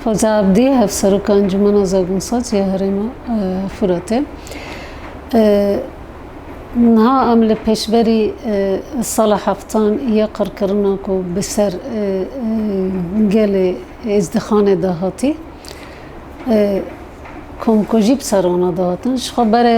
Xweca Abdî Hevseroka Encûmena Zagonsaç ya Herêma Furatê niha em li pêşberî sala heftan ya qirkirina ku bi ser gelê Êzdixanê de hatî komkujî bi ser wana de hatin ji xwe berê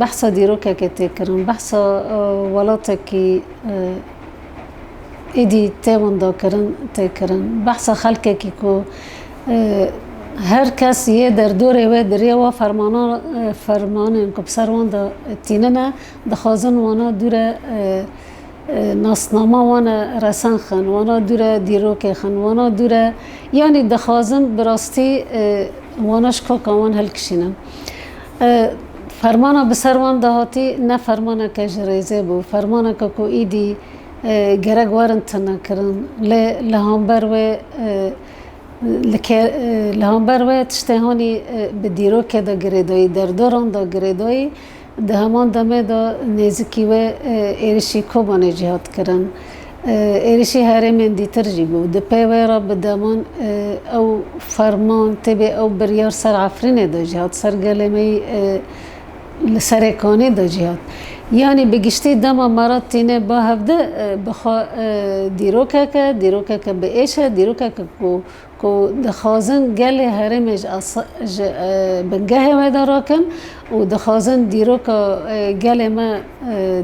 Behsa dîrokekê tê kirin, behsa welatekî êdî tê winda kirin tê kirin. Behsa xelkekî ku her kes yê derdorê wê di rê wa fermanan fermanên ku bi ser wan de tînine dixwazin wana dû re nasnama wan e resen xin, wana dû re dîrokê xin, wana dû re yanî dixwazin bi rastî wana ji koka wan hilkişînin. Fermana bi ser wan de hatî ne fermaneke ji rêzê bû, fermaneke ku îdî gerek werin tinekirin. Lê li hember wê li hember wê tiştê hanî bi dîrokê de girêdayî, derdoran de girêdayî. Di heman demê de nêzikî wê êrişî Kobanê jî hat kirin. Êrişî herêmên dîtir jî bû. Di pey wê re bi deman ew ferman tê bê ew biryar ser Efrînê de jî hat, ser gelê me yî li serê kanê de jî hat. Yanî bi giştî dema me re tîne ba hevdi bi xwe dîrokeke, dîrokeke bi êş e, dîrokeke ku ku dixwazin gelê herêmê ji bingehê we de rakin û dixwazin dîroka gelê me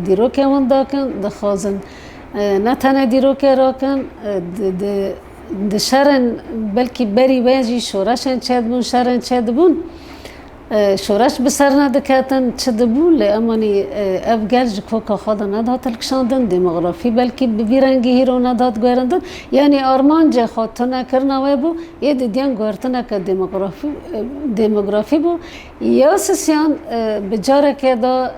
dîrokê winda kin, dixwazin ne tenê dîrokê rakin, di şerên belkî berî wê jî şoreşên çêdibûn, şerên çêdibûn. Şoreş bi ser nediketin, çi dibû lê emanî ev gel ji koka xwe de nedihat hilkişandin, demografî belkî bi vî rengî hîro nedihat guherindin, yanî armancê xwe tunekirina wê bû, yê dîdiyan guhertineke demografî bû. Ya Sisiyan bi carekê de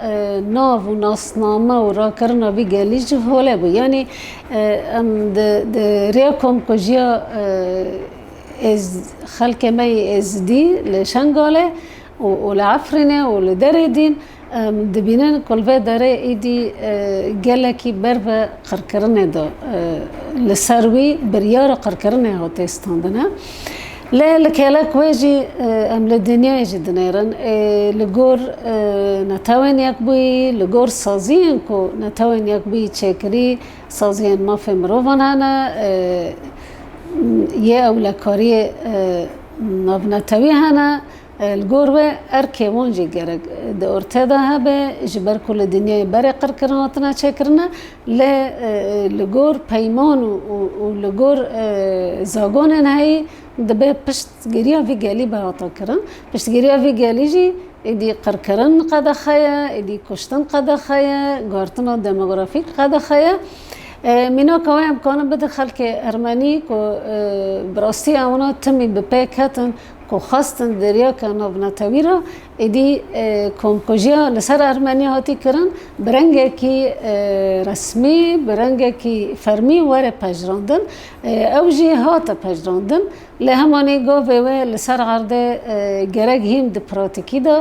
nav û nasname û rakirina vî gelî ji holê bû. Yanî em di rêya komkujiya. Ez xelkê me yê Êzidî li Şengalê û li Efrînê û li derê dîn dibînin ku li vê derê êdî gelekî ber bi qirkirinê de li ser wî biryara qirkirinê hate standine. Lê li kêlek wê jî em li dinyayê jî dinêrin ê li gor Netewên Yekbûyî, li gor saziyên ku Netewên Yekbûyî çêkirî, Saziyên mafê mirovan hene, yê ewlekariyê navnetewî hene, li gor wê erkê wan jî gerek di ortê de hebe ji ber ku li dinyayê berê qirkirin hatine çêkirin e lê li gor peyman û li gor zagonên heyî dibê pişt Piştgiriya vî gelî be hata kirin. Piştgiriya vî gelî jî êdî qirkirin qedexe ye, êdî kuştin qedexe ye, guhertina demografîk qedexe ye. Mînaka wê em karin bidin xelkê ermenî ku bi rastî ewna timî bi pê ketin ku xwestin deryake navnetewî re êdî komkujiya li ser ermenî hatî kirin bi rengekî resmî, bi rengekî fermî were pejirandin. Ew jî hate pejirandin. Lê hemanî govê wê li ser erdê gerek hîn di pratîkî de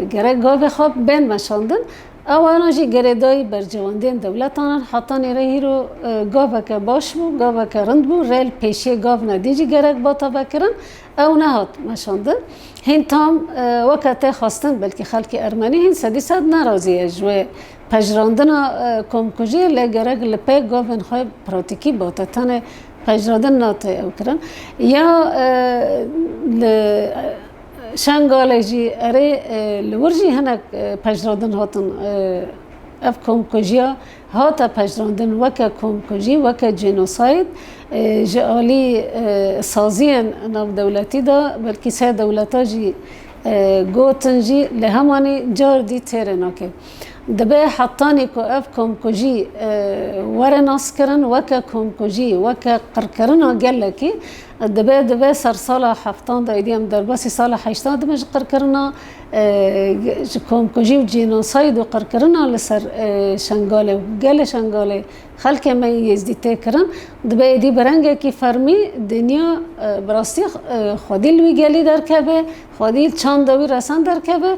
gerek govê xwe bên meşandin. Awayanan jî gerêdayî bercewendiyên dewletan in. Heta nêrê hîro goveke baş bû, goveke rind bû, rê li pêşiyê gav ne. Dî jî gerek ba tevekirin, ew nehat meşandin. Hîn tam weke tê xwestin, belkî xelkê ermenî hîn sedî sed nerazî ye ji wê Pejirandina komkujiyê lê gerek li pê govên xwe pratîkî bate tenê pejirandin nate ew kirin. Ya li Şengalê jî erê li wir jî hinek pejirandin hatin ev komkujiya hate pejirandin weke komkujî weke cênosayd ji alî saziyên navdewletî de belkî sê dewleta jî gotin jî lê hemanî car dî têrê nake. Dibe hetanî ku ev komkujî were naskirin weke komkujî, weke qirkirina gelekî, dibe dibe ser sala heftan de êdî em derbasî sala heştan dibe ji qirkirina ji komkujî û cînosayd û qirkirina li ser Şengalê û gelê Şengalê xelkê me yên Yêzdî tê kirin. Dibe êdî bi rengekî fermî dinya bi rastî xwedî li wî gelî derkeve, xwedî çanda wî resen derkeve.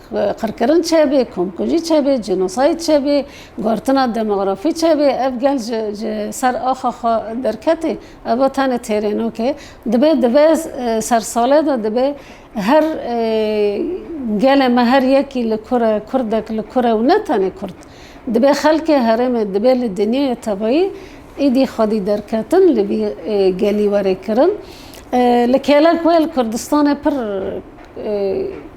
Qirkirin çêbê, komkujî çêbê, cînosayîd çêbê, gortina demografî çêbê, ev gel ji ser axa xwe derketê, ev a tenê têrênok e. Dibê dibe sersalê de dibê her gelê me her yekî li kur e, kurdek li kur e û ne tenê kurd. Dibê xelkê herêmê dibê li dinyayê tevayî êdî xwedî derketin li vî gelî were kirin. Li kêlek wê li Kurdistanê pir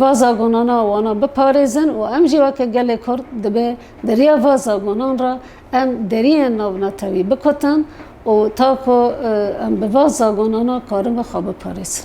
va zagonana wana biparêzin û em jî weke gelê Kurd dibe di riya va zagonan re em deriyên navnetewî bikutin û ta ku em bi va zagonana karibe xwe biparêzin.